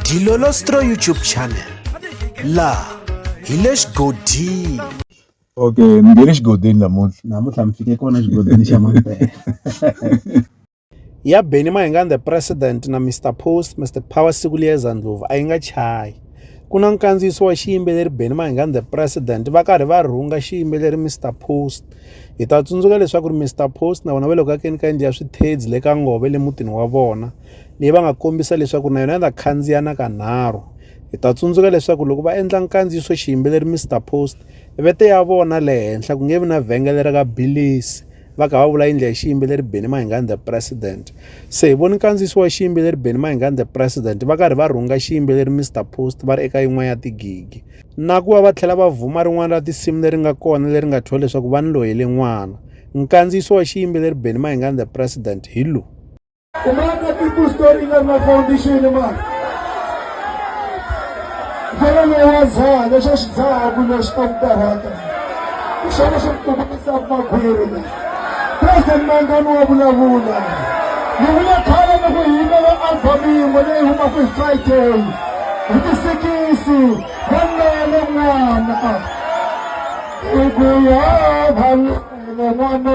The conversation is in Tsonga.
Dilolostro YouTube channel la hi le xigodini okay mi nge le xigodini namuntlha namuntlha mi fike kona xigodini xa mampela ya Benny Mayengani the president na Mr Post Mr Power siku liyeza ndlovu a yi nga chayi ku na nkandziyiso wa xiyimbeleri Benny Mayengani the president va karhi va rhunga xiyimbeleri Mr Post hi ta tsundzuka leswaku ri Mr Post na vona va le ku akeni ka yindlu ya swithedzi le ka ngove le mutini wa vona leyi va nga kombisa leswaku na yona yi ta khandziya na kanharhu hi ta tsundzuka leswaku loko va endla nkandziyiso xiyimbeleri mr post vete ya vona le henhla ku nge vi na vhengele ra ka bilisi va kha va vula yindlu ya xiyimbeleri beni mahingani the president se hi voni nkandziyiso wa xiyimbeleri beni mahingani the president va karhi va rhunga xiyimbeleri mr post va ri eka yin'wana ya tigigi na ku va va tlhela va vhuma rin'wana ra tinsimu leri nga kona leri nga thyiwa leswaku va ni loyele n'wana nkandziyiso wa xiyimbeleri beni mahingani the president hi lowu Umaga People Story International Foundation mani mfana loyi wa dzaha lexo xi dzaha ku lexi ta ku karhata hi xona xi kukumisaka makhwiri la president mangani wa vulavula ni vule khale ni ku yimela album yin'we leyi humaka hi friday hi tisikisi va nele n'wana i ku ya vanele n'wana